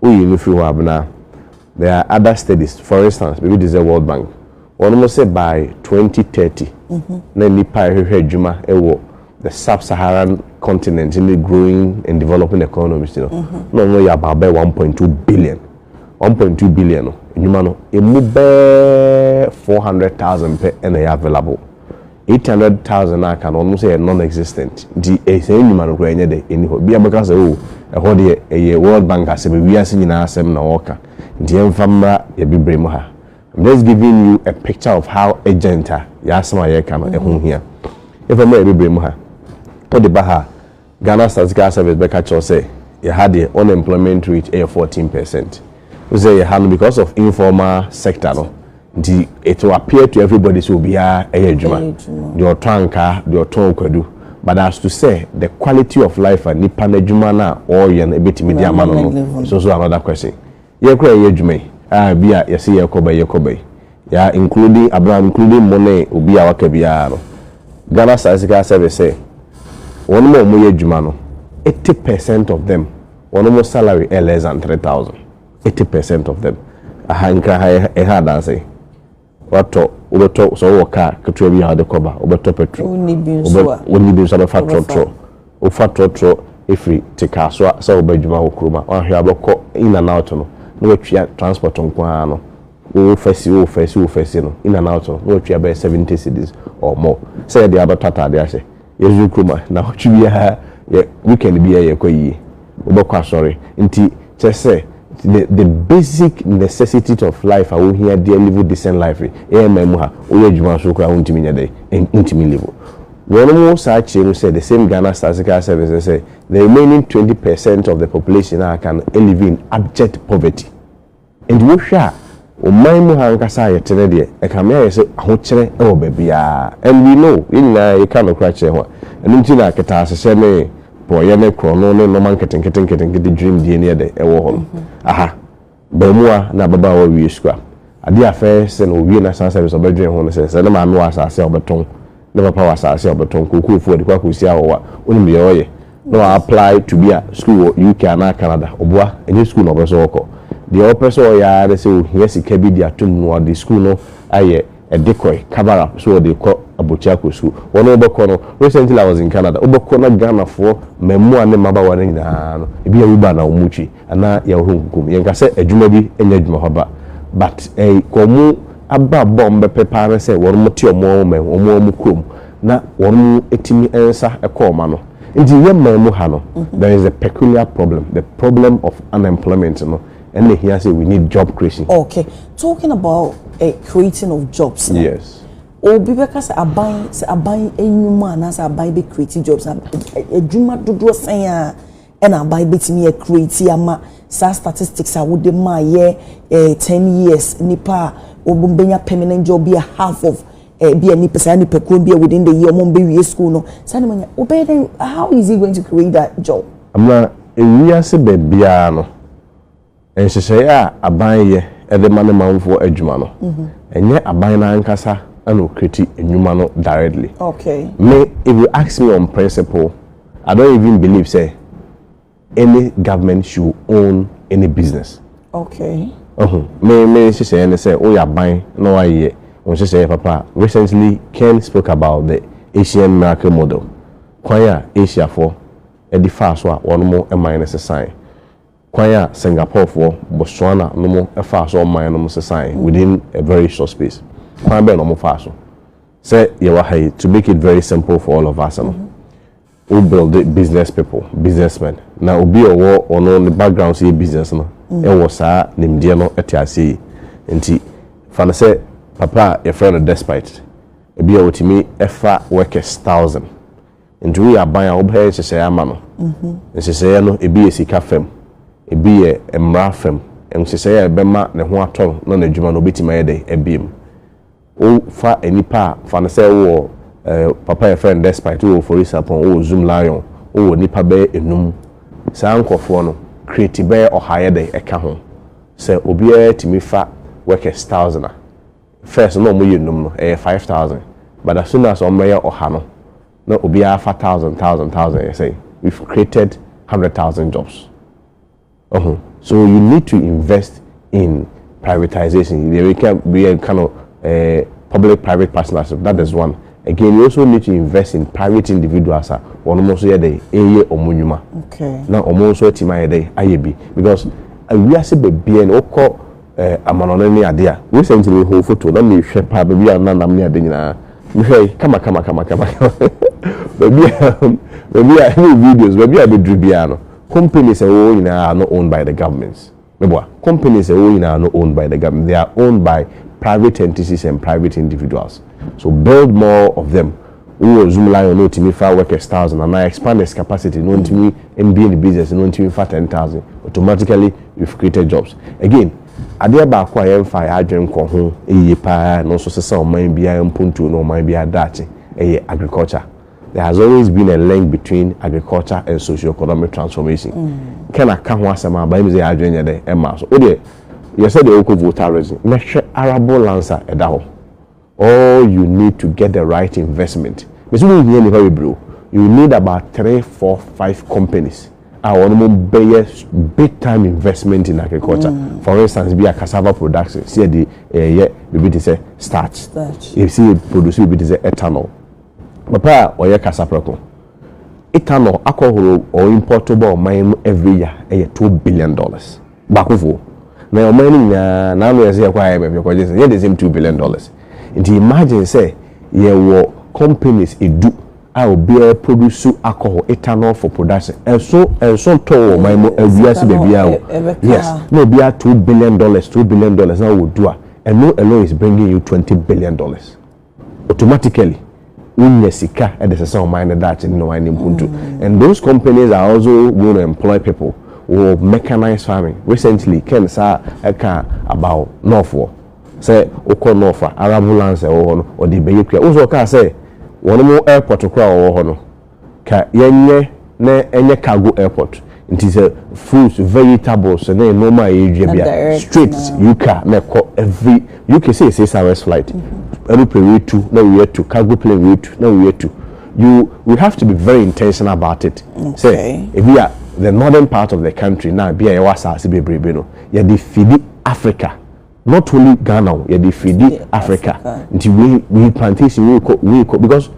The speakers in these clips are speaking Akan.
woyi no firi hɔ a bena there are other studies for instance biribi te sɛ world bank wɔnom sɛ by 2030 na nnipa a ɛhwehwɛ adwuma wɔ the sub-saharan continent in the growing and developing economies no na wɔn yɛ about bɛyɛ 1.2 billion 1.2 billion no nnwuma no emu bɛɛ 400,000 pɛ ɛna ɛyɛ available eight hundred thousand a aka no ɔnom sɛ ɛyɛ non existent nti eh saa nnwuma no koraa ɛnyɛ dɛ ɛni hɔ bia bɛka sɛ oh ɛhɔ deɛ ɛyɛ world bank asɛm wiase nyinaa asɛm na wɔka nti yɛmfa mmra yɛbibire mu ha I'm just giving you a picture of how agent a yɛasɛm a yɛka no ɛho hia yɛmfa mmra yɛbibire mu ha wode ba ha a Ghana Statical Service bɛka kyerɛ wo sɛ yɛ ha deɛ unemployment rate yɛ fourteen percent. Wohu sɛ yɛ ha no because of informal sector no nti it will appear to everybody sɛ obiara yɛ adwuma. Deɛ ɔtɔ ankaa, deɛ ɔtɔn kwadu. But as to sɛ the quality of life a nipa no adwuma no a ɔreyɛ no ɛbɛtumi de ama no no, it's also another question. Yɛ koraa yɛ adwuma yi a bi a yɛse yɛ kɔ bɛ yɛ kɔ bɛ yi ya including abena including mo ne obi a waka biara no Ghana statistical service sɛ wɔnom a wɔyɛ adwuma no eighty percent of them wɔnom salary ɛ less than three thousand eighty percent of them aha nkra ha yɛ ha adanse. Watɔ, wobɛtɔ, sɛ wowɔ kaa ketewa bi a wode kɔba, wobɛtɔ petrol. Wonni bi nso a. Wonni bi nso a, bɛfa trɔtrɔ. Wofa trɔtrɔ firi Tekaa so a, sɛ woba adwuma wɔ kurom a, woanhwɛ a wobɛkɔ in and out no, na woatua transport nko ara no, wo fɛsi, wo fɛsi, wo fɛsi no, in and out no, na woatua bɛyɛ seventy cedis or more. Sɛ ɛyɛ deɛ a wobɛtɔ ataadeɛ ahyɛ. Yɛdwedwe kurom a, nnawɔtwe biara yɛ weekend biara yɛkɔ ayie. Wobɛkɔ asɔre. Nti kyerɛ sɛ the the basic necessities of life a wohia de alive decent life yi, yɛn man mu ha, woyɛ adwuma nso koraa wontumi nyɛ dɛn? Ɛn wontumi live. Wɔn saa kyerɛ mu sɛ the same Ghana Statistical Service no sɛ the remaining twenty percent of the population a aka no live in abject poverty. Enti wohwɛ a, ɔman mu ha ankasa a yɛte no deɛ, ɛkame ayɛ sɛ ahokyerɛ wɔ baabiara. And we know, yɛn nyinaa yɛka nokorɛ kyerɛ ho a, ɛno nti na aketaasehyɛ ne porɔeɛ ne korɔno ne nnoɔma nketenkete nketenkete dwurimdie no yɛ dɛ ɛwɔ hɔ no. Aha, baamua na ababaawa wie sukuu a, adeɛ a first thing ɔwie na asan sɛ ɛsɛ sɛ ɔbɛdwene ho no sɛ, sɛ ne maame wɔ asaase a ɔbɛtɔn na papa wɔ asaase a ɔbɛtɔn kookoo fo ɔde kɔ akɔsi awɔwa wonim deɛ ɔyɛ na wa apply to be a school wɔ UK anaa Canada ɔboa ɛnyɛ school na ɔpɛ sɛ ɔkɔ deɛ ɔpɛ sɛ ɔyɛ ara ne sɛ ɔhia sika bi de atom no ɔde school no ayɛ ɛde kɔe cover up so ɔde kɔ abɔkyi akɔ school wɔn wobɛkɔ no recently I was in Canada wobɛkɔ na Ghanafoɔ mmaamua ne mmabawa no nyinaa no ebi yɛ Uber na wɔn twi Ana yɛn ho nkuku mu. Yɛnka sɛ adwuma bi nyɛ adwuma papa but eh wɔn aba bɔ a wɔn bɛpɛ paa ne sɛ wɔn te wɔn wɔn man mu, wɔn wɔn kurom na wɔn tumi nsa kɔ wɔn ano. Nti yɛ man mu ha no there is a peculiar problem, the problem of unemployment no ɛna ehia sɛ we need job creation. Okay, talking about eh creating of jobs no. Yes. Obi bɛka sɛ aban sɛ aban nnwuma anaasɛ aban bɛ create jobs a adwuma dodoɔ sɛn a na aban bɛtumi a create ama saa statistics a wode maa yɛ eh, 10 years nipa a wɔn bɛnya permanent job bi a half of eh, bi a nipa saa nipakuo bi a within the year wɔn bɛwie school no saa na wɔnya wobɛyɛ dɛn how is he going to create that job. Ama ewiase baabiara no. Nhyehyɛe a aban yɛ de ma ne manfoɔ adwuma no, ɛnyɛ aban no ankasa na ɔkreti nnwuma no directly. Me, if you ask me on principle, I don't even believe sɛ any government should own any business. Wahu? Me me nhyehyɛeɛ ne sɛ woyɛ aban na woayɛ wo nhyehyɛeɛ papa a, recently Ken spoke about the Asian miracle model, kwan a Asiafoɔ de faa so a wɔn man no sesaeɛ. Kwan a Singaporefoɔ Botswana nom faa so ɔman nom sesaeɛ within a very short space. Kwan bɛn na wɔn faa so? Sɛ yɛwɔ ha yi, to make it very simple for all of us no, wo build business people, business men, na obi a ɔwɔ ɔno ne background sɛ yɛ business no wɔ saa nimdeɛ no te aseɛ yie. Nti fa no sɛ papa a yɛfrɛ no Despite, ebi a ɔtumi fa workers thousand. Ntumi yɛ aban a wobɛyɛ nhyehyɛeɛ ama no. Nhyehyɛeɛ no, ebi yɛ sika fam, ebi yɛ mmara fam. Nhyehyɛeɛ a ɛbɛma ne ho atɔ no na n'adwuma no ɔbɛtumi ayɛ dɛn abue mu. Wofa nnipa a, fa no sɛ wowɔ eh, papa a yɛfrɛ no Despite, wowɔ Ofori Sapon, wowɔ Zoom Lion, wowɔ nnipa bɛyɛ enum. Saa nkurɔfoɔ no, create bɛyɛ ɔha yɛ dɛn ɛka ho. Sɛ obiara tumi fa workers thousand a, First no na ɔmo yɛ nnum no ɛyɛ five thousand but as soon as ɔmo bɛyɛ ɔha no na obiara fa thousand thousand thousand ɛyɛ sɛn? We've created hundred thousand jobs wahu so you need to invest in privatisation deɛ meka bi yɛ ka no eh, public private partnership that is one again you also need to invest in private individuals a wɔn nso yɛ dɛ ɛyɛ wɔn nnwuma na wɔn nso atumi ayɛ dɛ ayɛ bi because wiase bebree no wokɔ eh, amanɔne ne ade a. Wei sɛ nti me hoo foto na me hwɛ paa baabi a na nam ne ade nyinaa. Me hwɛ yi, kama kama kama kama kama. Baabi a, baabi a, ne videos, baabi a me duru biara no, companies a ɛwɔ nyinaa are not owned by the government. Me boa, companies a ɛwɔ nyinaa are not owned by the government. They are owned by private entities and private individuals. So build more of them. Wo wɔ zoom lion na otumi fa workers thousand anaa expand his capacity na ontumi mbue ne business na ontumi nfa ten thousand automatically you've created jobs again adeɛ baako a yɛn nfaa yɛn adwene nkɔɔ ho yie paa a ɛno nso sesa ɔman biara mpuntuo ne ɔman biara daakye ɛyɛ agriculture there has always been a link between agriculture and socio-economic transformation Ken aka ho asɛm a bayɛ mi sɛ yɛn adwene nyɛ dɛ ɛmaa so wo deɛ yɛ sɛ deɛ wokɔ votares mɛhwɛ arable lands a ɛda hɔ. All you need to get the right investment mese wo nhia nipa bebree o you need about three four five companies a wɔn mo bɛyɛ big time investment in agriculture mm. for instance bi a cassava production si ɛde ɛyɛ eh, biribi te sɛ starch esi eh, produce biribi te sɛ ethanol papa a ɔyɛ kasaprɛko ethanol akɔhoro ɔimpɔto bɔ ɔman mu every year ɛyɛ two billion dollars. baakofoɔ na ɔman no nyinaa n'ano yɛ sɛ yɛkɔ IMF yɛkɔgye nsɛm yɛn de nsɛm two billion dollars nti imagine sɛ yɛwɔ companies edu a obiara produce alcohol ethanol for production ɛso ɛnso ntɔ wɔ ɔman mu awiase baabiara o yes na obiara two billion dollars two billion dollars na wɔ du a ɛno alone is bringing you twenty billion dollars. Automatically wonya sika de sesa ɔman no daakye ne ɔman no mpuntu and those companies are also going to employ people wɔ mechanized farming. Recently Ken saa ɛka about North hɔ sɛ wokɔ North a arable lands a ɛwɔ hɔ no wɔde bɛyɛ kua. Wohu sɛ ɔkaa sɛ wɔnom airport koraa a ɔwɔ hɔ no Ka yɛnyɛ na ɛnyɛ cargo airport nti sɛ fruits, vegetables ne nnoɔma a yɛdua bi a straight UK a na ɛkɔ every UK sɛ yɛ six hours flight aeroplane wei tu na wei atu cargo plane wei tu na wei atu you we have to be very intentional about it sɛ ebi a the northern part of the country na ebi a yɛwɔ asaase bebrebe no yɛde feedi Africa Not only Ghana o, yɛde firi Africa, nti wei, wei plantation, wei kɔ, wei kɔ, because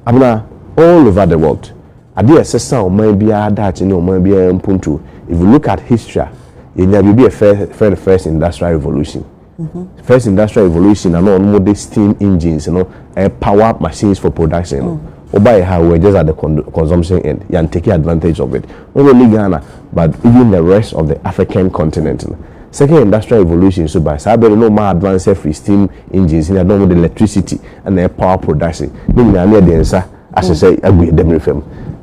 abena all over the world. Adeɛ a ɛsesa ɔman biara daakye ne ɔman biara mpuntuo. If you look at history a, yɛnya biribi a yɛfrɛ no first industrial revolution. Mm-hmm. First industrial revolution na na wɔn de steam engines no eh, power machines for production no. Mm. Oba yɛ ha, we were just at the consumption end. Yɛn take advantage of it. Not only Ghana, But even the rest of the African continent no, second industrial revolution nso bae. Saa bere no na wɔn a advance afiri steam engines ne ade na wɔde electricity na ɛyɛ power production. Ne nyinaa na yɛde yɛn nsa ahyɛ sɛ agu yɛn dam refa mu.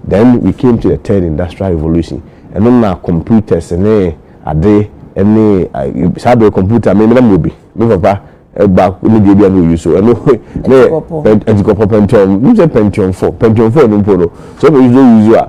Then we came to the third industrial revolution. Ɛno na computers ne ade ne saa bere computer me na mewɔ bi. Me papa baako ne deɛ bi a na ɔyi so ɛno ne atikɔpɔ pentium. Nim sɛ pentium four pentium four no mpo no sɛ ɔbɛyi so ɔyi so a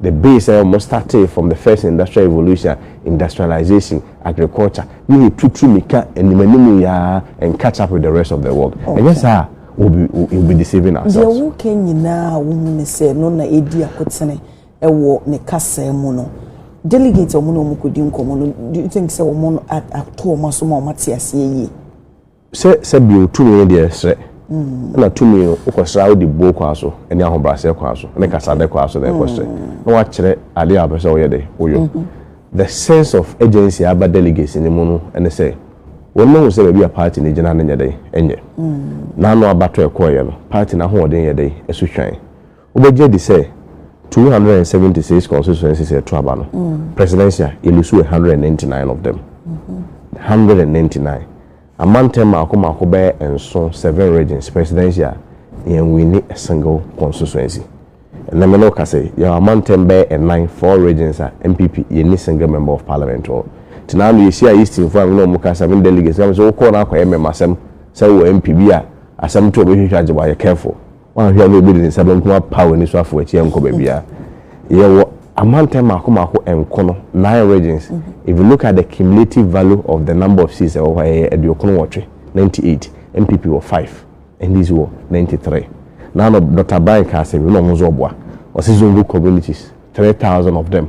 The base a wɔn startee from the first industrial revolution a industrialization, agriculture, ne yɛ tutu mika anim anim yi ara and catch up with the rest of the world. Ɛnyɛ saa a we'll be, we'll be deceiving Deɛ ourselves. woka nyinaa a wohu ne sɛ ɛno na ɛdi akotene wɔ ne kasaa mu no, delegate a wɔn ne wɔn kɔdi nkɔmmɔ no, do you think sɛ wɔn a- ato wɔn aso ma wɔate aseɛ yie? Sɛ sɛ bio tumi no deɛ srɛ, ɛna tumi no wokɔsrɛ a wode buo kwaa so ne ahobrɛaseɛ kwaa so ne kasadɛ kwaa so na ɛkɔsrɛ na wakyerɛ adeɛ a wopɛ sɛ woyɛ dɛ woyɔ. The sense of urgency a ɛba delegates no mu no ne sɛ wɔn mahu sɛ baabi a party no gyina no nyɛ dɛn nyɛ. N'ano abatɔ ɛkɔeɛ no party no ahoɔden yɛ dɛn ɛso hwan. Wobɛgye adi sɛ two hundred and seventy six constituencies a ɛto aba no, presidential, yɛlusuo one hundred and ninety nine of them. One hundred and ninety nine. Amantam mmaako mmaako bɛyɛ nson, seven regions, presidential, yɛnwini a single constituency. Ɛnnɛ me ne wo ka sɛ, yɛwɔ amantam bɛyɛ nnan, four regions a NPP yɛnni single member of parliament wɔ. Nti na ano yɛhyiaa Eastonfoɔ a me ne wɔn ka sɛ, me ne delegates ka me sɛ, wokɔɔ no akɔyɛ mmɛmasɛm sɛ wowɔ MP bi a asɛm to a ɔbɛhwehwɛ agye wo a, yɛ careful. Woanhwɛ a na obi de ne nsa benkum apaw anisuafo akyi ankɔ baabiara. Yɛwɔ amantam mmaako mmaako nko no, nine regions. Mm-hmm. If you look at the cumulative value of the number of seats ɛwɔ hɔ ɛyɛ aduokron nwɔtwe, ninety eight. NPP wɔ five, NDC wɔ ninety three. Now no Dr. Brian ka asɛm bi na ɔmo nso ɔboa. Ɔsi Zombo communities, three thousand of them.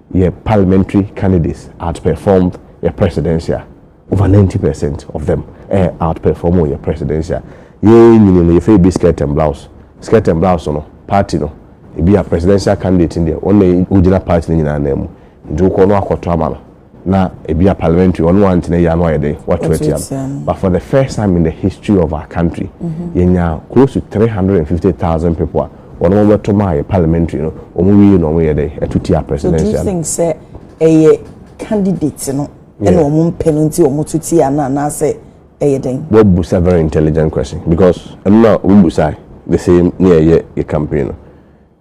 yɛ parliamentary candidates outperformed yɛ presidential over ninety percent of them ɛ eh, outperform yɛ presidential yɛn nyini no yɛfɛ ebi skirt and blouse skirt and blouse no party no ebi a presidential candidate no deɛ wɔn na wɔgyina party no nyinaa nan mu nti wokɔ no akɔto ama no na ebi a parliamentary wɔn wɔn antena yia no ayɛ dɛ wɔato atia no but for the first time in the history of our country mm-hmm. yɛnya close to three hundred and fifty thousand people a wɔn wɔn bɛto maa yɛ parliamentary no wɔn wie na wɔn yɛ dɛ ɛto tia presidential. so do you think sɛ ɛyɛ candidate no ɛna wɔn mpɛ no nti wɔn to tia no anaasɛ ɛyɛ dɛn. wɔ busa very intelligent question because ɛno na wɔn busa the same ne ɛyɛ yɛ campaign no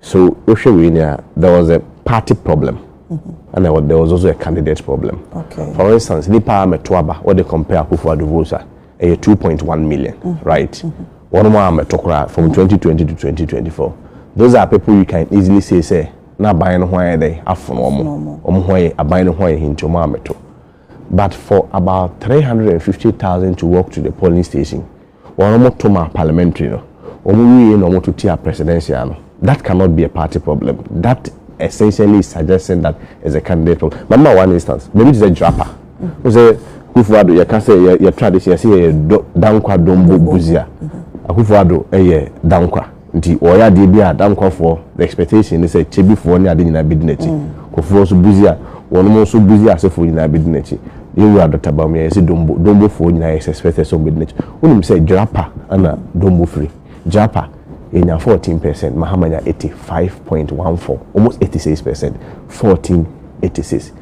so wohwɛ wei ni a there was a party problem. Mm-hmm. And there was also a candidate problem. Okay. For instance, Nipa Metuaba, what they compare Akufo-Addo votes are. ɛyɛ two point one million mm-hmm. right mm-hmm. wɔn mu a mɛtɔ koraa from twenty twenty to twenty twenty four those are people you can easily say sɛ na aban no ho ayɛ dɛ afono wɔn wɔn ho ayɛ aban no ho ayɛ hinti wɔn a mɛtɔ but for about three hundred and fifty thousand to walk to the polling station wɔn mo to ma parliamentary no wɔn wie na wɔn to tia presidential no that cannot be a party problem that essentially is suggesting that it's a candidate problem mama one instance maybe it's a drapper. wo sɛ Kufuor Addo yɛ ka sɛ yɛ yɛ tradition yɛ sɛ yɛ yɛ dɔ Dankwa Dombo Busia Akufuor Addo yɛ Dankwa nti ɔyɛ adeɛ bi a Dankwa foɔ the expectation ne sɛ Kyebi foɔ ne ade nyinaa bɛ di n'akyi Kufuor nso Busia wɔn mo nso Busia ase foɔ nyinaa bɛ di n'akyi yɛ wura Doctor Bawumia yɛ sɛ Dombo Dombo foɔ nyinaa yɛ sɛ expected sɛ wɔn bɛ di n'akyi wonim sɛ Jirapa ɛna Dombo firi Jirapa yɛ nya 14 percent Mahama nya 85.14 almost 86 percent 14 86.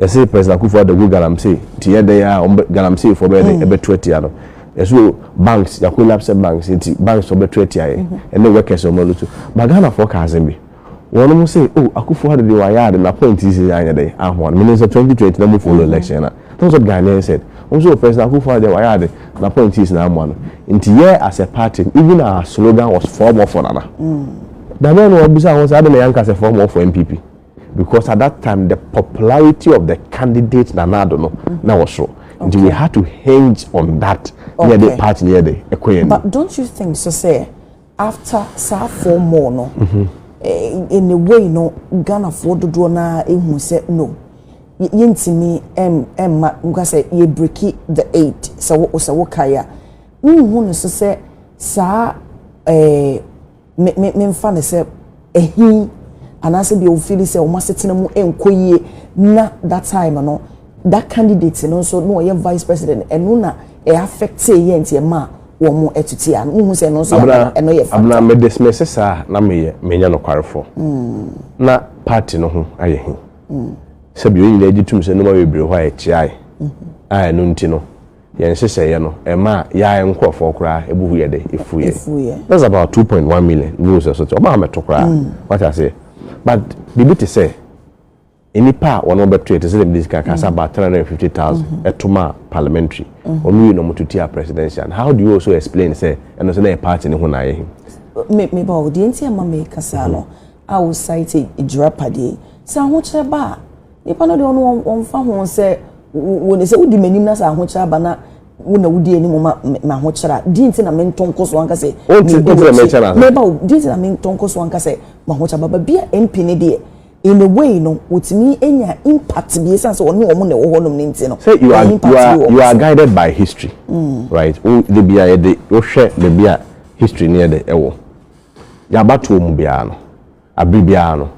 Yɛse President Akuffo Addo gu galamsey nti yɛ dɛn aa wɔn galamsey foɔ bɛyɛ dɛn ɛbɛtu atia no. Yɛse o banks ya collapse banks nti banks foɔ bɛtu atia yɛ ɛne workers wɔn ano tu. But Ghana foɔ ka asem bi wɔnom se o Akuffo Addo deɛ wayɛ ade na point yi sese anyɛ dɛn ahoa no. Menim sɛ 2020 na mo follow election na that's what Ghanaians said wɔn se o President Akuffo Addo deɛ wayɛ ade na point yi sese na amoa no nti yɛ as a party no even our slogan was four more for Nana. Da bɛn na wɔbisa ho sɛ adɛn na yɛanka sɛ four more for NPP. because at that time the popularity of the candidate Nana Addo no mm. na wɔ soro nti we had to hinge on that ne yɛ de party ne yɛ de ɛkɔ yɛn ni. but don't you think so say after saa four more no. Mm -hmm. Eh, in a way no ghanafoɔ dodoɔ no ara ehu sɛ no yɛntumi mma nka sɛ yɛbreki the eight sɛ wo sɛ wokae a wohu no so sɛ saa ɛɛ eh, me me memfa no sɛ ɛhi anaasɛ deɛ ofili sɛ wɔn asetena mu nkɔ yie na that time no that candidate no nso na ɔyɛ vice president ɛno na ɛ affect yɛ nti ɛma wɔn ɛtuti ano mo hu sɛ ɛno nso yɛ ɛno yɛ fa. abena me dismiss saa na meyɛ menya nokwarefo mm. na party no ho ayɛ hi mm. sɛbi wɔn nyinaa gye tum sɛ nneɛma bebree hɔ a ɛkyeae mm-hmm. a ɛno nti no Yɛn nhyehyɛeɛ no, ɛmaa yɛn nkurɔfoɔ koraa ɛbu hu yɛ dɛ, ɛfu yɛn. That's about two point one million views ɛso te, ɔbaa mɛto koraa, wate aseɛ. But biribi te sɛ nnipa a wɔn bɛto yɛ te sɛ dɛm de sika kasa about three hundred and fifty thousand mm-hmm. ɛto maa parliamentary, mm-hmm. wɔn yi na wɔn to tia presidential. How do you also explain sɛ ɛno sɛ na yɛ party ne ho na ayɛ he? Me me ba o, deɛ nti a ma mɛka saa no. Mm-hmm. a wosae sɛ agyirapadeɛ yi, sɛ ahokyerɛ ba a, nnipa no deɛ ɔno wɔn- wɔmfa ho sɛ wo- wo ne sɛ wodi m'anim na sɛ ahokyerɛ aba na wo na wodi anim ma me- m'ahokyerɛ a, di nti na mento nko so anka sɛ Wonte- medi wonte na w'akyi. mekyɛ no ase. Meba o, di nti na mento nko so anka sɛ m'ahokyerɛ aba. Baabi a MP no deɛ, in a way no, wɔtumi nya impact bi ɛsiane sɛ ɔne wɔn na ɛwɔ hɔnom no nti no, sɛ you are ɛyɛ impact you bi are wɔ wɔn you are so. guided by history right wo de bia yɛde wohwɛ baabi a history no yɛ dɛ ɛwɔ Deɛ abatoɔ mu biara no, abere biara no,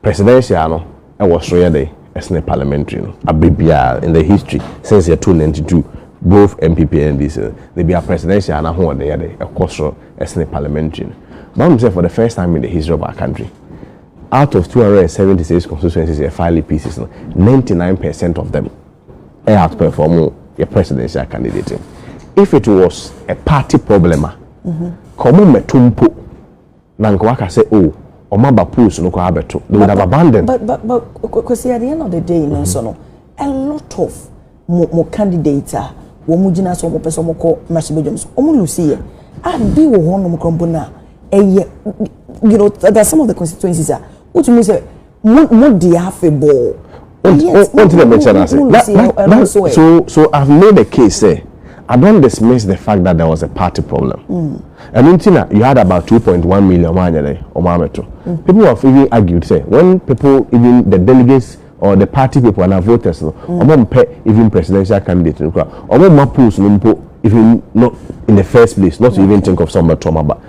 presidential no wɔ soro yɛ dɛn sene parliamentary no. Abere biara in the history since yɛtoo ninety two both NPP and NDC no, da biara presidential no ahoɔden yɛ dɛn, ɛkɔ soro sene parliamentary no. But wonim sɛ for the first time in the history of our country, out of two hundred and seventy six constituencies yɛ file pieces no, ninety nine percent of them, ɛyɛ out perform yɛ presidential candidate no if it was a party problem a ka ɔmo mmɛto mpo na nka waka sɛ oh ɔmo aba polls no koraa abɛto they would have abandoned. but but but kwasi at the end of the day no nso no a lot of mo mo candidates a wɔn gyina so wɔn pɛ sɛ wɔn kɔ mmarahyɛbadwam so wɔn lusi yɛ a bi wɔ hɔnom korɔmpo na ɛyɛ you know there are some of the constituencies a wotumi sɛ. mo mo di afebɔɔ. wọ́n ti na mi kyerɛ n'ase na na na so so i have made a case sɛ i don't dismiss the fact that there was a party problem mm. ɛnu mm. ti na you had about two point one million wɔn anyɛ dɛ wɔn abɛto mm. people have even argued sɛ when people even the delegates or the party people and our voters no wɔn mm. mpɛ even presidential candidate no kura wɔn mma polls no mpo even not in the first place not to even think of some ɔmɛtɔ ɔmaba.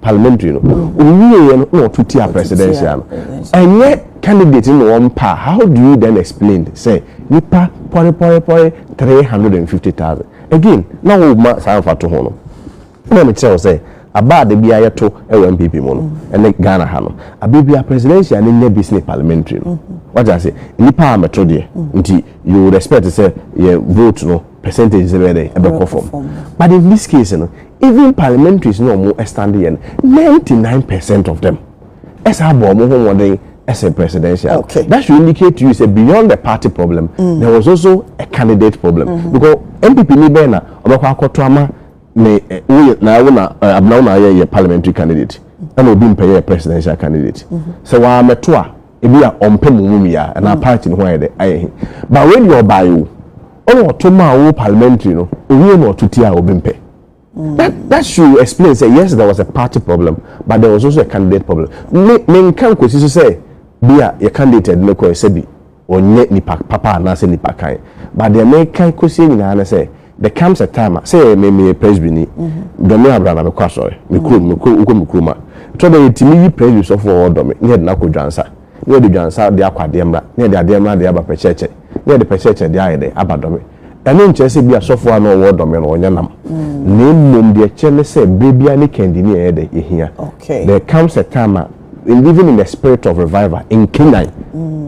parliamentary no owie yɛ no na ɔto tia presidential no ɛnyɛ candidate no na wɔn pa how do you then explain sɛ nipa pɔre pɔre pɔre three hundred and fifty thousand again na wɔn ma saa nfa to ho no ɛna mi kyerɛ sɛ aba ade bi ayɛ to ɛwɔ npp mu no ɛne ghana ha no abe bi a presidential ne nyɛ bi sini parliamentary no wagya ase nipa a mɛto deɛ nti you respect sɛ yɛ vote no. percentage sɛ bɛyɛ dɛ ɛbɛkɔ fam but in this case no even parliamentaries na wɔn ɛstand yɛ no ninety nine percent of them ɛsɛ abɔ wɔn ho wɔden ɛsɛ presidential okay. that should indicate to you say beyond the party problem mm. there was also a candidate problem mm -hmm. because npp ni bɛyɛ na ɔbɛkɔ akɔto ama ne eh, woyɛ na ɛwo na eh, abena wo na ayɛ yɛ parliamentary candidate ɛna obi mpɛ yɛ presidential candidate mm-hmm. sɛ wɔn amɛto a ebi a ɔmpɛ mu mu mia ɛna mm. party no ho ayɛ dɛ ayɛ he but when you ɔbaa yi o. ɔna ɔto ma wo parliamentary no owie na ɔto tia obi mpɛ mm. that that should explain say yes there was a party problem but there was also a candidate problem me me nka nkosi so sɛ bi a yɛ candidate ɛdini kɔ ɛsɛ bi ɔnyɛ nipa papa anaasɛ nipa kan but deɛ me kan kosi nyinaa ne sɛ there comes a time a sɛ me me yɛ presby ni mm-hmm. dɔmi abira na me kɔ asɔre me kurom me kurom wokɔ me kurom a tɔ dɛ yɛ ti mi yi presby sɔfo ɔwɔ dɔmi ne yɛ de na kɔ dwansa. na yɛde dwansa de akɔ adeɛ mmra, na yɛde adeɛ mmra de aba pɛkyɛɛkyɛ, na yɛde pɛkyɛɛkyɛ de ayɛ dɛ aba dɔme. Ɛno nkyerɛ sɛ ebia sɔfoɔ a na ɔwɔ dɔme no ɔnyɛ nam, na mmom deɛ ɛkyerɛ ne sɛ berɛ biara ne kɛndi ne yɛyɛ dɛ yɛhia. There comes a time a even in the spirit of revival, nkenyan,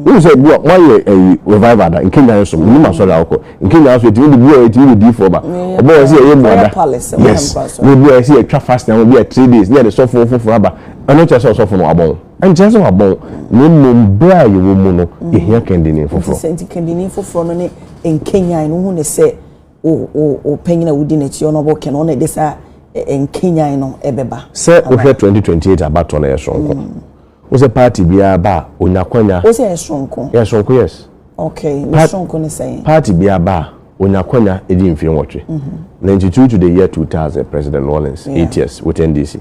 wohu sɛ bi a moayɛ ayi revival da, nkenyan nso menim asɔre a wokɔ, nkenyan nso ɛtumi de bi a ɛtumi de diifoɔ ba, ɔbɛwɔ sɛ yɛyɛ mmuada, yes, na ebi a ɛsɛ yɛtwa fasting ama bi a three days, na yɛde sɔfoɔ foforɔ aba, ɛno kyerɛ sɛ ɔsɔfo no wabɔ ho. Ɛnkyerɛ sɛ wɔabɔ wo, na mmom bere a yɛwɔ mu no, yehia kɛndini foforo. Enti kɛndini foforo no ne nkanyan no, wuhu no sɛ wo panyin a wudi n'akyi a ɔno ɔbɔ kɛn no, ɔno na ɛde saa nkanyan no bɛba. Sɛ wohwɛ twenty twenty eight abatoɔ no, ɛyɛ soronko. Wohu sɛ party biara ba a, onya akwanya. Wose ɛyɛ soronko? Ɛyɛ soronko, yes. Okay, ne soronko ne sɛn? Party biara ba a, onya akwanya di mfie nwɔtwe. Na nti true to the year two thousand, President Rawlings, eight years with NDC,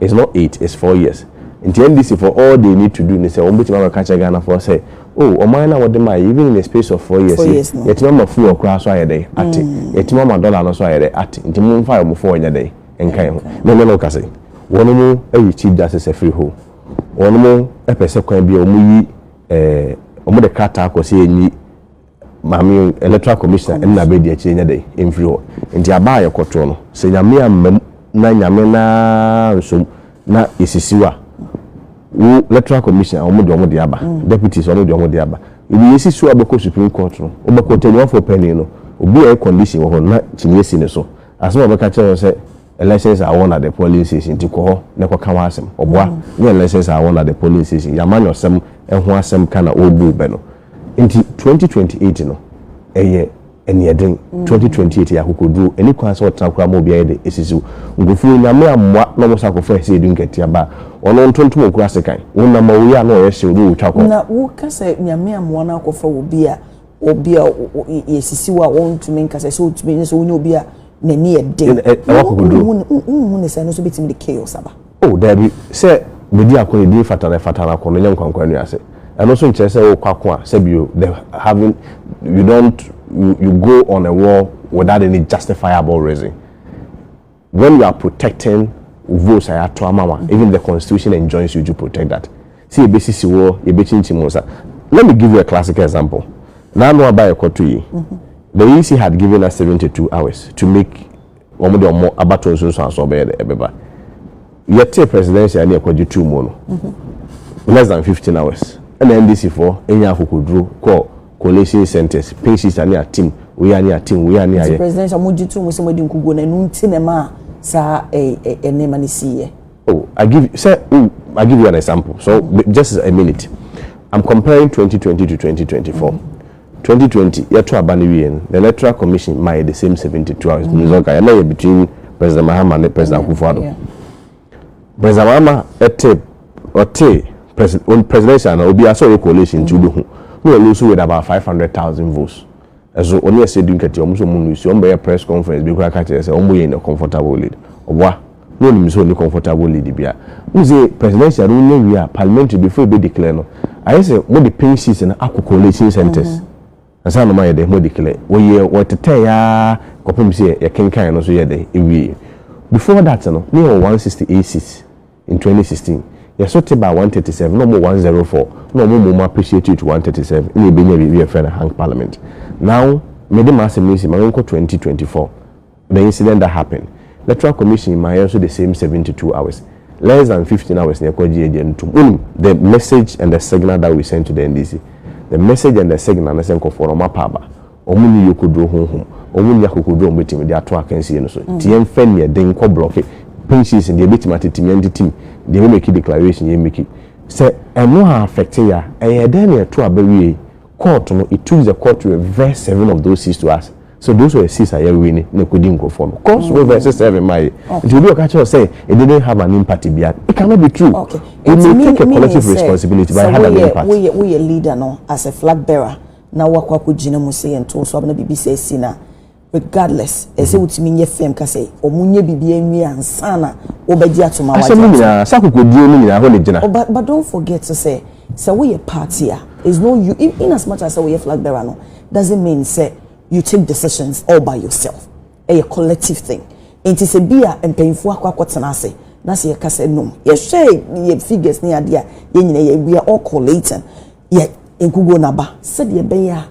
It's not eight, it's four years. Nti NDC foɔ all they need to do ne sɛ wɔn bɛtumi akɔ kakyerɛ Ghana foɔ sɛ oh ɔman no a wɔde maa yɛ even in a space of four years yi yɛtumi ama fuel koraa so ayɛ dɛ ate yɛtumi ama dollar no so ayɛ dɛ ate nti mo nfa wɔn foɔ nyɛ dɛ nka yɛ ho. Na ɛnɛ no kase wɔn mo ayi chief justice afiri ho wɔn mo ɛpɛ sɛ kwan bi a wɔn yi ɛɛ wɔn de krataa kɔ sɛ yɛn yi. Maame yɛn electoral commissioner ɛne na bɛdi akyire nyɛ dɛ ɛmfiri hɔ nti aba a yɛkɔtoɔ no sɛ nyame ammam na nyame naa nsom na yɛsisiw a wo electoral commissioner wɔn de wɔn de aba mm. deputies wɔn de wɔn de aba ebi yɛsi so a bɛkɔ supreme court no wobɛkɔ tɛnuafoɔ panyin no obi a yɛ condition wɔ hɔ na kyiniiɛ si ne so asɛm a wɔbɛka kyerɛ wɔn sɛ Elections are won at the polling station nti kɔ hɔ na kɔka w'asɛm. Ɔboa, nyɛ elections are won at the polling station, yɛ amanyɔsɛm ho asɛm ka na ɔrebu wo bɛ no. Nti 2028 no ɛyɛ aniɛden, 2028 yɛ akokoduro, ɛni kwan sɛ ɔtena koraa ma obi ayɛ dɛ ɛsisi wo. Nkurɔfoɔ yi Nyame ammoa na wɔn san akɔfa ɛsɛ edu nkatia ba a, ɔno ntontom ɔkura sekan. Wo nam a ɔyɛ a na ɔyɛ hyew na ɔretwa kɔ. Na wo ka sɛ Nyame ammoa na akɔfa obi a obi a yɛsisi wo a wɔntumi nkasa sɛ wotumi ne sɛ wonyɛ obi a n'ani yɛ den wohu ne sɛ no nso bɛtumi de chaos aba o daabi sɛ bɛdi ako ne din fatara fatara ako no nyɛ nkwankwa nnu ase ɛno nso nkyerɛ sɛ wokɔ ako a sɛ bio the having you don't you, you go on a war without any justifiable reason When you are protecting votes a yɛato ama wo a, even the constitution enjoins you to protect that. Sɛ yɛbɛsisi wo, yɛbɛkyinkyim wo nsa. Let me give you a classical example. N'ano aba a yɛkɔto yi, the EC had given us 72 hours to make wɔn de wɔn abato nsunsuanso ɔbɛyɛ dɛ ɛbɛba. Yɛte presidential ne yɛkɔgye too mu no, less than 15 hours, ɛna NDC foɔ ɛnya akokoduro kɔɔ Coalition centres, Pink Sister ne Atim Weah ne Atim Weah ne Ayɛ. Nti President a mogye toom sɛ moadi nkoguo no ɛno nti na ɛmaa saa nneɛma no siiɛ? Oh, I give you, sɛ wo, I give you an example, so just a minute, I'm comparing twenty twenty to twenty twenty four, twenty twenty yɛto aba no wieɛ no, the Electoral Commission maa yɛ the same seventy two hours, ɛno nso nka yɛ na yɛ between President Mahama ne President Akufo-Addo. President Mahama te ɔte president presidential na obi asɛ ɔyɛ coalition nti wobɛhu na ɔlu so with about five hundred thousand votes ɛso ɔne ɛsɛ du nkɛtɛ ɔmo so ɔmo lu si ɔmo bɛyɛ press conference bi kura ka kyerɛ sɛ ɔmo yɛ in a comfortable lead ɔboa na ɔnim sɛ ɔni comfortable lead bia ɔmo sɛ presidential no wonya wie a parliamentary before ebe declare no ayɛ sɛ mo de pink sheets no akɔ coalition centers. Mm -hmm. Ansa na wɔayɛ dɛ, wɔadeclare. Wɔyɛɛ, wɔtetɛe ara kɔpem sɛ yɛkenkan no nso yɛɛ dɛ, yɛwieeɛ. Before that no, na yɛwɔ 168 seats in 2016. Yɛso te baa 137, na wɔwɔ 104, na wɔn mmom appreciate you to 137, ɛna yɛbɛnyaa biribi a yɛfrɛ no hung parliament. Now, mede m'asɛm no asi ma menkɔ 2024. The incident that happened, Electoral Commission ma yɛn nso the same seventy two hours, less than fifteen hours na yɛkɔ gye agya no tom. Wonim? The message and the signal that we sent to the NDC, the message and the signal ne sɛ nkurɔfoɔ no wɔapa aba. Wɔn nni yokoduro honhom. Wɔn nni akokoduro a wɔbɛtumi de ato akansie no so. Nti yɛmfa aniɛden nkɔ blɔke pink sheets no, deɛ ɛbɛtim atetem yɛntetem, deɛ ɛbɛmeki declaration yɛmmeki. Sɛ ɛno a affecte yɛ a, ɛyɛɛ dɛn na ɛto aba wiei? Court no it took the court to reverse seven of those six to us so those were six a yɛwe ne na ɛkɔdi nkurɔfoɔ no court so reverse seven ma yɛ nti obi ɔka kyerɛ sɛ it didn't have an impact bia it cannot be true okay. we may take a collective responsibility but it had an impact. woyɛ woyɛ leader no as a flag bearer na wakɔ akɔgyina mu sɛ yɛnto so abena biribi sɛ asi na Regardless, ɛsɛ sɛ wotumi nyɛ firm ka sɛ wɔn nyɛ biribiara nwie ansa na wɔbɛgye atom a wagye atom. Asɛm no nyinaa, saa akokodie no nyinaa, ɛhɔ na ɛgyina. But but don't forget sɛ, sɛ woyɛ party a, is no you in in as much as sɛ woyɛ flag bearer no, doesn't mean sɛ you take decisions all by yourself. Ɛyɛ collective thing. Nti sɛ bi a mpanyinfoɔ akɔ akɔ tena ase na sɛ yɛka sɛ nom, yɛhwɛ yɛ figures ne adeɛ a, yɛn nyinaa yɛ we are all collating, yɛ nkuguo no aba sɛdeɛ ɛbɛyɛ a.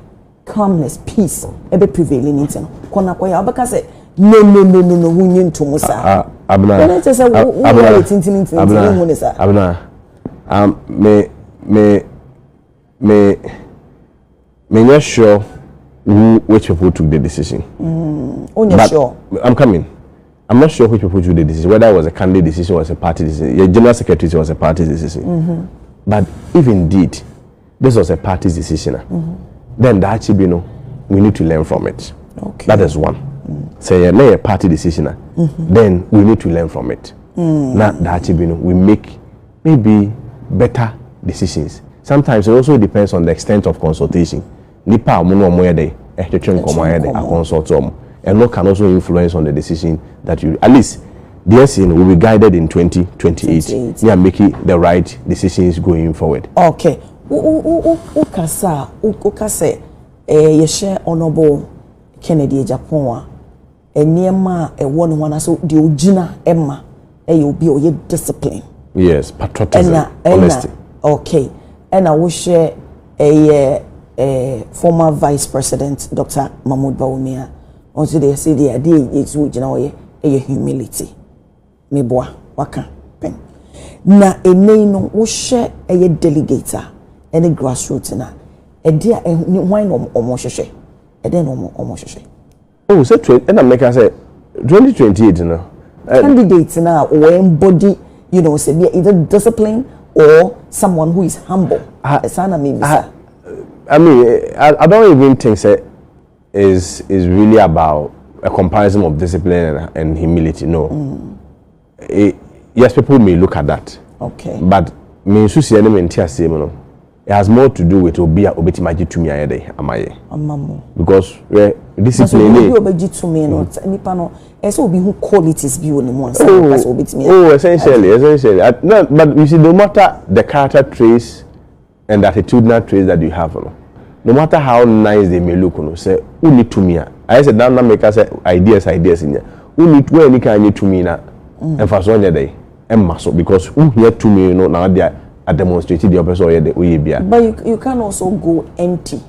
calmness, peace, ɛbɛ prevaili no nti no, kɔ na kɔyɛ a, wobɛka sɛ nonononono ho nye nto mu saa. Ah, ah, Abena. Ɛnɛ kyɛ sɛ wo wo yɛ tintini ntini ntini hu ne saa. Abena, um, me, me, me, me nyɛ sure who, which people took the decision. Mm, oh, but sure. I'm coming. I'm not sure which people took the decision, whether it was a candidate decision or a party decision. Your general secretary was a party decision. Mm-hmm. But if indeed this was a party's decision a then daakye bi no we need to learn from it okay. that is one sɛ yɛ na yɛ party decision a mm-hmm. then we need to learn from it mm. na daakye bi no we make maybe better decisions sometimes it also depends on the extent of consultation nipa a wɔn na wɔn yɛ dɛ ɛtwetwe nkɔmɔ ayɛ dɛ akɔnsɔlto wɔn ɛno can also influence on the decision that you at least. Deɛ ɛsee no, will be guided in twenty twenty eight ne a make the right decisions going forward. Ok, wo kasa a, wo ka sɛ eh, yɛ hyɛ Honourable Kennedy Agyapong a, nneɛma a ɛwɔ ne ho anaasɛ deɛ ogyina ɛma ɛyɛ obi a ɔyɛ discipline. Yes, patriotism, ɛna, ɛna, honesty. Ok, ɛna wo hyɛ ɛyɛ eh, former Vice President Dr. Mahmoud Bawumia, wɔn nso deɛ sɛ deɛ adeɛ a yesu ogyina hɔ yɛ ɛyɛ humility meboa waka pɛn na ɛnɛ yi no wohwɛ ɛyɛ delegate a ɛne grassroots na ɛde a ɛne hwan na wɔn hwehwɛ ɛdɛn na wɔn wɔn hwehwɛ. o sɛ twen ɛna mmeka sɛ twenty twenty eight no. candidate na wɔn embody you know sɛ bi either discipline or someone who is humble ɛsan na mi bisa. I mean, I, I don't even think that is is really about a comparison of discipline and, and humility. No, mm. it, yes, people may look at that. Okay. But me nsu si ɛne me nti aseɛ mu no it has more to do with obi a obetumi agye tumi ayɛ dɛ ama yɛ. ama mu. because wɛ discipline ni. obi obegye tumi no mm. nipa no ɛsɛ obi hu qualities bi wɔ ne mu ansa na ɔka sɛ obetumi. oh essentially essentially no but you see no matter the character traits. and attitudinal traits that you have no no matter how nice they may look no sɛ wonni tumi a ayɛ sɛ dan na meka sɛ ideas ideas nya wonni wɔanni kan nye tumi na mm. mfasoɔ nyɛ dɛ ɛmma so because wohia tumi no na wode a demonstrate deɛ ɔpɛ sɛ ɔyɛ dɛ woyɛ bia but you, you can also go empty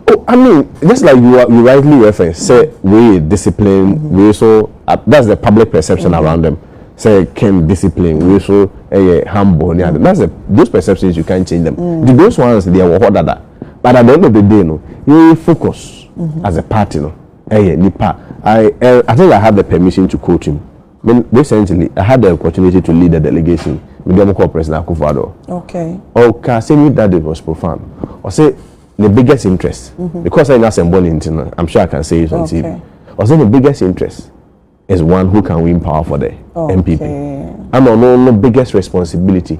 Oh I mean just like you are, you rightly reference sɛ wei yɛ discipline wei so that's the public perception mm -hmm. around them sɛ Kim discipline wei so ɛyɛ humble ne ade that's the those perceptions you can't change them mm -hmm. those ones deɛ wɔ hɔ dada but at the end of the day no yɛn focus mm -hmm. as a party no ɛyɛ nipa I I think I have the permission to quote him. Me recently I had the opportunity to lead a delegation me de wɔn kɔɔ President Akufo Addo. Okay. Ɔka asɛm yi that it was profound. Ɔsɛ ne biggest interest mm -hmm. because I know asɛm bɔ ne nti no I'm sure I can say it on okay. TV. Ɔsɛ ne biggest interest is one who can win power for the okay. MPP. Ana ɔno no biggest responsibility.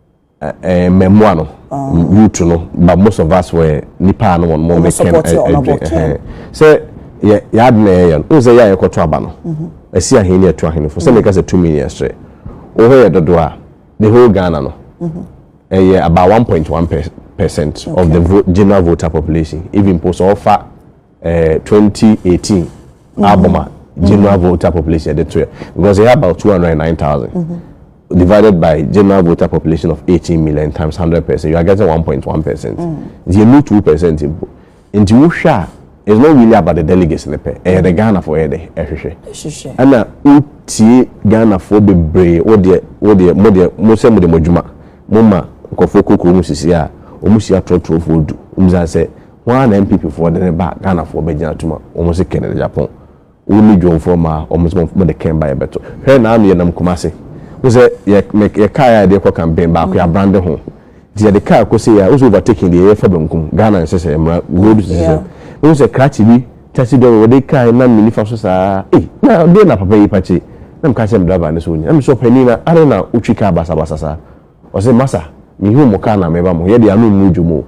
mmɛmoa no youth no but most of us were nipa a no wɔn mo mekɛn ɛdwe sɛ yɛ yɛ adi na yɛ yɛ no sɛ yɛ a yɛkɔto aba no ɛsi ahen ne ɛto ahen fo sɛ meka sɛ tumi yɛ srɛ wɔn yɛ dodo a the whole Ghana no ɛyɛ about one point one percent of the general voter population even po sɛ ɔfa. eh, 2018 mm-hmm. album a general mm-hmm. voter population ɛde to yɛ because ɛyɛ about 209,000 mm-hmm. divided by general voter population of 18 million times 100 percent you are getting 1.1 percent nti yɛ mu 2 percent mpo nti wohwɛ a it's not really about the delegates ne pɛ ɛyɛ de ghana fo ɛyɛ de ɛhwehwɛ ɛna wotie ghana fo bebree wodeɛ wodeɛ mo deɛ mo sɛ mo de mo adwuma mo ma nkɔfoɔ kokoro mu sisi a wɔn si atorɔtorɔfoɔ du wɔn sɛ Hwan ara na NPP foɔ de reba a Ghana foɔ bɛgyina atom a wɔn se Ken de Japan? Wo ne Dwom foɔ mmaa a wɔn se mo de Ken ba yɛbɛto. Hwɛ na ano yɛnam Kumasi. Wohu sɛ yɛ me yɛ car a yɛde rekɔ campaign baako yɛ abrande ho. Nti yɛde car kɔ sei a wohu sɛ overtaking deɛ yɛfa benkum. Ghana nhyehyɛeɛ mmara road nhyehyɛeɛ. Wohu sɛ krakye bi taxi driver wɔde car nam me nifa so saa ei na deɛ na papa yi pakye na meka kyerɛ me driver no sɛ ɔni na mese ɔpanin na adɛn na wotwi car basabasa saa ɔse masa mehu mo car na meba mo ho yɛdeɛ ano mmu dwom o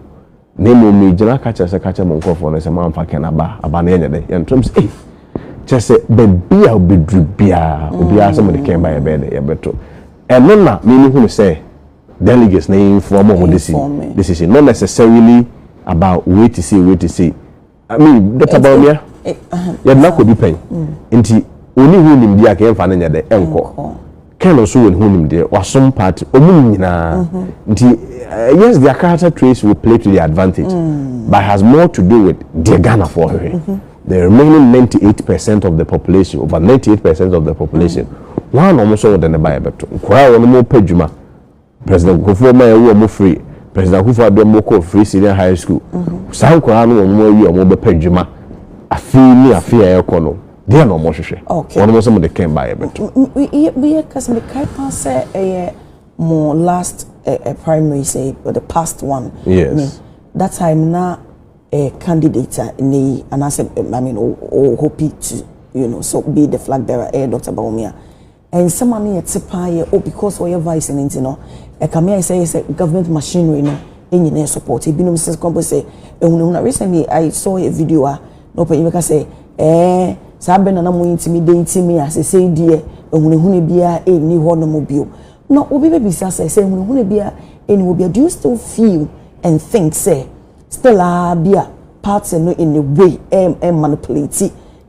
Na mmom megyina ka kyerɛ sɛ ka kyerɛ mo nkurɔfoɔ no sɛ moamfa Ken aba a, aba no yɛnyɛ dɛ, yɛntom sɛ ei! Kyerɛ sɛ baabi a ɔbɛduru biara, obiara sɛ mode Ken ba a yɛbɛyɛ dɛ, yɛbɛto. Ɛno na me mehunu sɛ delegates na inform wɔn decision, not necessarily about wei te sei, wei te sei. I mean, Dr. Bawumia, yɛde n'akɔ bi pɛn. Nti, oni ho nimdeɛ a kɛn fa no nyɛ dɛ ɛnkɔ. Kɛn no nso wɔ ne ho nimdeɛ, wasom party, ɔmo nyinaa. Mhm. Nti, eh, yes, their character traits will play to their advantage, mm. but has more to do with deɛ Ghanafoɔ hwehwɛ. Mm-hmm. The remaining 98% of the population, over 98% of the population, wɔn a na wɔn nso wɔde ne ba yɛ bɛto. Nkwadaa a wɔn mo pɛ dwuma. President Nkurɔfoɔ ma yɛwo ɔmo firi President Akufo Addo ɔmo kɔɔ Free Senior High School saa nkwadaa no wɔnom awie a wɔn bɛpɛ adwuma afe yi ne afe a ɛrekɔ no deɛn na wɔn hwehwɛ wɔnom nso mo de kɛn baa yɛbɛto. Yɛ kasa mi kae paa sɛ ɛyɛ mo last eh, eh, primary say or the past one yes. me that time na eh, candidate a ɛnɛ yi anaasɛ I mean o o hope to you know so be the flag bearer eh, Dr. Bawumia. Nsɛm a na yɛte paa yɛ oh because ɔyɛ vice no nti no ɛkame ayɛ sɛ ɛyɛ sɛ government machinery no nyina yɛ support ebinom sɛ kwan bɔ sɛ ehunahuna recently I saw a video a na ɔpanyin bɛka sɛ ɛɛ saa bɛ na na mo ntumi de nti me a sesei deɛ ehunahuna biara ɛnni hɔ no mo bio na obi bɛbisa sɛ sɛ ehunahuna biara ɛnni hɔ biara do you still feel and think sɛ still a bi a party no in a way ɛmanipulate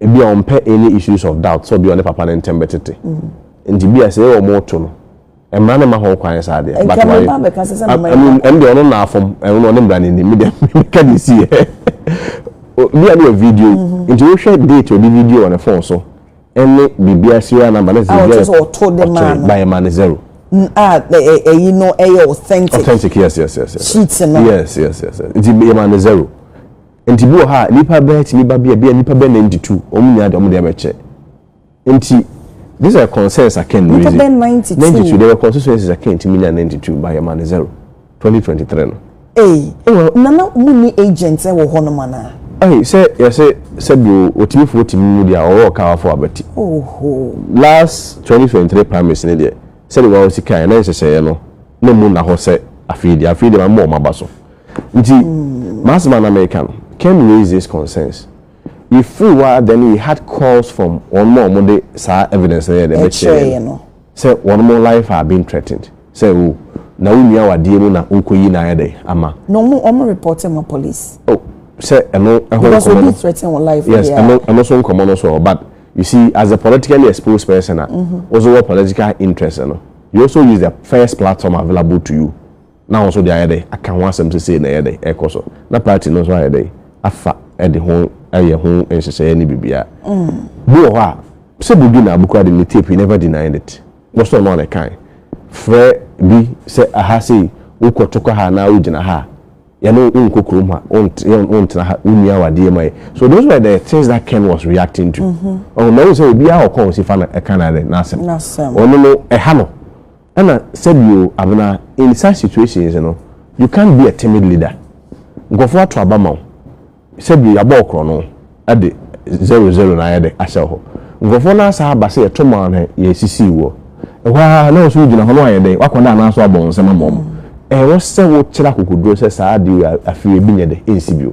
ebi a ɔmpɛ any issues of doubt sɛ obi a ɔne papa no ntɛm bɛtete nti bi a sɛ yɛwɔ mo to no mmara no ma ho kwan saa deɛ but why ɛm deɛ ɔno na afom ɛno na ɔne mmara no nim me deɛ meka de si yɛ bi a ne yɛ video mm-hmm. nti wohwɛ date ɔde video wɔ ne phone so ɛne biribiara serial number ne sɛ biribiara ɔto de ma no bayɛ ma no zero a ɛyi no ɛyɛ authentic authentic yes yes yes yes sheet no yes yes yes nti yɛ ma no zero Nti bi wɔ hɔ a nipa bɛɛ tumi ba bi a bi a nipa bɛɛ na ndi tu wɔn nyinaa de wɔn de abɛkyɛ nti this are concerns I can raise it ninety two there were constituencies I can tumi nya ninety two by yɛma ne zero twenty twenty three no. Ee nana mu ni agent wɔ hɔ nom anaa. Ɛyi sɛ yɛsɛ sɛbi o otimifo otimi mu deɛ ɔwɔ ɔka wafo abɛti. Last twenty twenty three primaries ne deɛ sɛbi wɔn sika yɛ na nhyehyɛeɛ no na mu na hɔ sɛ afei deɛ afei deɛ ma mu wɔn aba so. Nti m'asɛm a na mereka no, Ken raised this concerns. Yɛfiri hɔ ara then we had calls from wɔnom a wɔde saa evidence no yɛɛ dɛn bɛkyerɛɛ yɛn no sɛ wɔnom life are being threatened sɛ oh na wo nua awadeɛ mu na worekɔyi no ayɛ dɛn ama. Na wɔn wɔn reporte ma police. Oh sɛ ɛno ɛho Because nkɔmmɔ obi no threaten wo life yes deɛ a. ɛno ɛno so nkɔmmɔ no so ɔ but you see as a politically exposed person a wo nso wɔ political interest no you also use the first platform available to you na wɔn nso de ayɛ dɛ aka ho asɛm sɛ sei na ɛyɛ dɛ ɛrekɔ so, na party no nso ayɛ dɛ afa de ho ayɛ ho nhyehyɛeɛ ne biribiara. Bi wɔ hɔ a, sɛ Buju na Abu koraa de ne tape he never denied it. Wɔsɔɔ no a na ɛkae. Frɛ bi sɛ aha sei, wokɔ to kɔ ha anaa wogyina ha a, yɛne wo, wonkɔ kurom ha, wontena ha, wonua w'adeɛ ma yɛ. So those were the things that Ken was reacting to. Ɔho, na wohu sɛ obiara wɔ kɔn ɔsi fa no ɛka n'ade, n'asɛm. Ɔno no, ɛha no. Ɛna sɛ bi o Abena in such situations no you can't be a timid leader nkurɔfoɔ ato aba ma wo sɛ bi yabɔ wo korɔno de zero zero na ayɛ dɛ ahyɛ wo hɔ nkurɔfoɔ no asan aba sɛ yɛto maa na yɛsisii woɔ ɛhɔ ara na wo nso wo gyina hɔ na wayɛ dɛn wakɔda anaa nso wabɔ wo nsam ama wɔn ɛwɔ sɛ wo kyerɛ akokoduro sɛ saa adeɛ wei afei ebi nyɛ dɛ ɛnsi bio.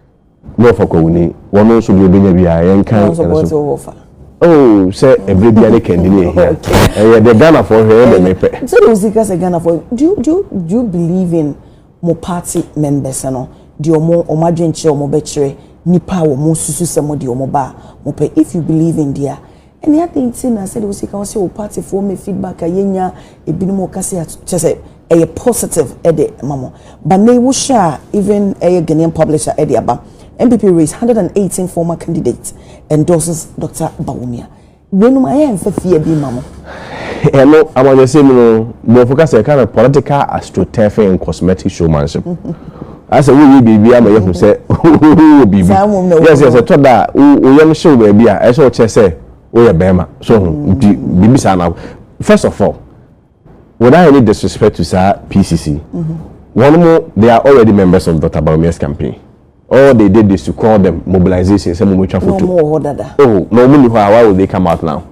Ne wɔfa kwawuni, wɔno nso deɛ ɔbɛnya biara yɛnkan ɛno so. Oh, sɛ ɛberɛ bia ne kandi ne ɛhia. Ɛyɛ deɛ Ghanafoɔ hwɛ ɛyɛ deɛ mepɛ. Sɛ deɛ ɔsi ka sɛ Ghanafoɔ, do you, do you, do you believe in mo party members no? Deɛ ɔmo, ɔmo adwenkyerɛ ɔmo bɛkyerɛ nipa a ɔmo susu sɛ mo deɛ ɔmo ba a mo pɛ. If you believe in deɛ a, Ɛnne adɛn nti na sɛdeɛ wosi ka wo sɛ wo party foɔ mɛ feedback a yɛnya ebinom wɔ kasa a kyɛ sɛ ɛyɛ positive ɛde ma mo ba nnɛ yi wohwɛ a even ɛyɛ Ghanaian publisher ɛde aba NPP race 118 former candidate endorses Doctor Bawumia weinom ayɛ ɛmfa fie bi ma mo. Ɛno amanyɔsɛm no borɔfo kasa ɛka no political astroturfing and cosmetic showmanship. Asɛ woreyɛ biribi ama yɛahu sɛ wowɔ biribi. Yes, yes, ɛtɔ da a wo yam hyew baabi a ɛsɛ ɔkyerɛ sɛ woyɛ bɛrima. So ho nti biribi saa na first of all without any disrespect to saa PCC wɔn mo they are already members of Dr. Bawumia's campaign. All they did is to call them mobilization sɛ mo mo twa foto. Oh, na wɔn ni hɔ a why would they come out now?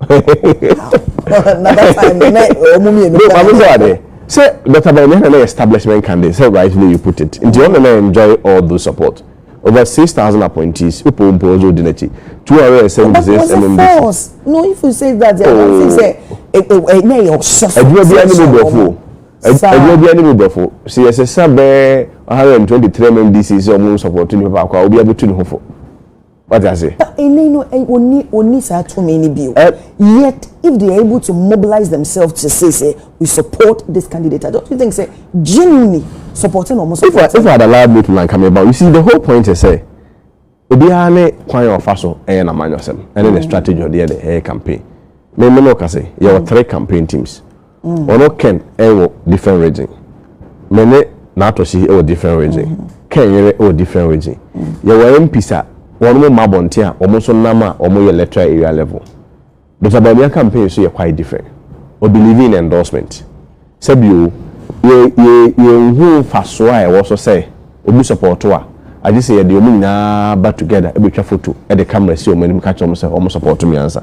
another time ne wɔn mmienu no maame sɛ wade sɛ dr bɛn ne na establishment candidate sɛ rightly you put it nti ɔno na enjoy all those support over six thousand appointees wopɔ mpo ɔdze odi n'akyi two hundred and seventy six mmc. no if you say that yɛn oh. ti sɛ ɛnyɛ yɛ ɔsɔfo. adwuma bi ani mu brɔfo adwuma bi ani mu brɔfo sɛ yɛsɛ sɛ bɛɛ one hundred and twenty three mmc sɛ ɔmo nsɔpɔtɔ nipa baako a obi abɛtu ne ho fo. Wate ase? But ɛnnɛ no, ɛ, wɔnni, wɔnni saa tumi no bio. Ɛ- Yet, if they are able to mobilize themselves to say, sɛ, we support this candidate, I don't you think sɛ, genuinely, supporting na wɔn If I, support if I no. had allowed me to na nka meba. You see, the whole point is sɛ, obiara ne kwan a ɔfa so yɛ n'amanyɔsɛm, ɛne ne strategy a ɔde yɛ ne, ɛyɛ campaign. Me, me ne wo ka sɛ, yɛwɔ three campaign teams. ɔno ken ɛwɔ different region me ne n'atɔsi ɛwɔ different region ken yere ɛwɔ different region yɛwɔ mps a wɔn mo ma abɔnten a wɔn nso nam a wɔn yɛ electoral area level dr bawumia campaign nso yɛ quite different o believe in endorsement sɛbio yɛ yɛ yɛ nhu nfasoɔ a ɛwɔ so sɛ obi sɔpɔɔto a agye sɛ yɛde wɔn nyinaa ba together ɛbɛtwa foto ɛde camera si wɔn anim ka kyerɛ wɔn sɛ wɔn sɔpɔɔto miansa.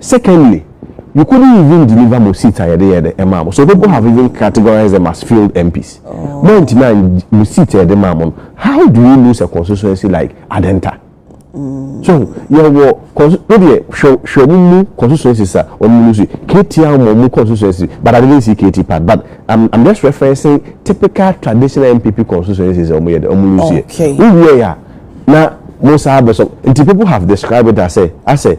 Secondly, you couldn't even deliver mo seats a yɛde yɛɛ dɛ maa mo, so people have even categorized them as failed MPs. Moantumi an mo seats a yɛde maa mo no, how do you lose a constituency like Adenta? So hu, yɛwɔ consti, wo deɛ hwɛ hwɛ ɔmo mu constituencies a ɔmo lose yi, KT ama ɔmo constituency but I didn't see KT part but I'm I'm just referencing typical traditional NPP constituencies a ɔmo yɛ dɛ ɔmo lose yɛ. Okay. Wo wiɛɛ a na mo san abɛsɔ nti people have described it as a as a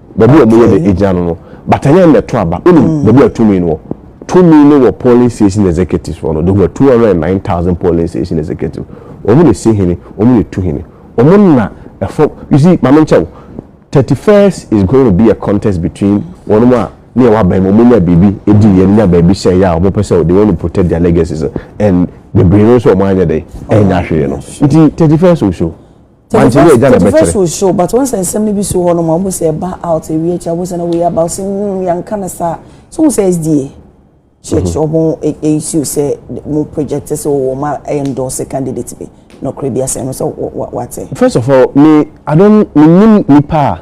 Baabi a wɔyɛ de gyina no no, bata yɛn na ɛto aba. Wonim mm. baabi a tumi no wɔ? Tumi no wɔ polling station executives hɔ no. They were two hundred and nine thousand polling station executives. Wɔn na esi hene, wɔn na etu hene. Wɔn na ɛfɔ. You see, maame nkyɛw, thirty first is going to be a contest between wɔn mu a ne yɛ wabɛn mu wɔn nya biribi edi yɛn nya baabi hyɛn yɛ a wɔn pɛ sɛ they want to protect their legacies and bebree no nso wɔn anyɛ dɛ ɛnya hwee no nti thirty first will show. Wante wei agya na ɛbɛkyerɛ. Tediverse will show but wonsa nsɛm no bi si hɔ nom a wohu sɛ ɛba out ɛwie akyire a wohu sɛ na wei aba ɔse hmm yɛnka no saa so wohu sɛ SDA church mhm. ɔmo ɛsiw sɛ mo project sɛ wɔwɔ ma endorse candidate bi nɔkorɛ bi asɛm no sɛ wate. First of all me I don't menim nipa a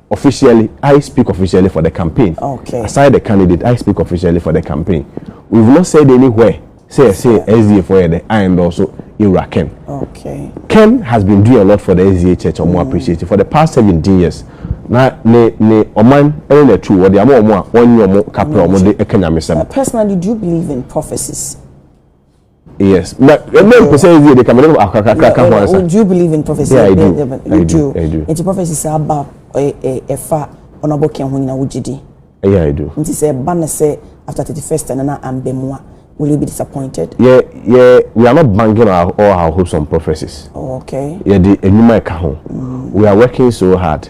Officially, I speak officially for the campaign. Okay. Aside the candidate, I speak officially for the campaign. We've not said anywhere sɛ yɛsɛ SDA fo yɛ dɛ I endorse Ewura Ken. Okay. Ken has been doing a lot for the SDA church ɔmo mm. appreciate for the past seventeen years na ne ne ɔman ɛne na tu wɔde ama ɔmo a wɔnye ɔmo kapra ɔmo de ɛka nyamesɛm. Personally, do you believe in prophecies? Yes. But ɛmɛ eh, mpɛsɛ ebi de kama ne akakaka ka ho ansa. Do you believe in prophecy? Yeah, I do. I do. I do. Nti prophecy sɛ aba ɛfa ɔnabɔ kɛn ho nyina wogye di. Yeah, I do. Nti sɛ ɛba na sɛ after thirty first ɛna na ambɛ mu a will you be disappointed? Yeah, yeah. We are not banking our, all our hopes on prophecies. Oh, okay. Yeah, the enyuma ɛka ho. Mm. We are working so hard.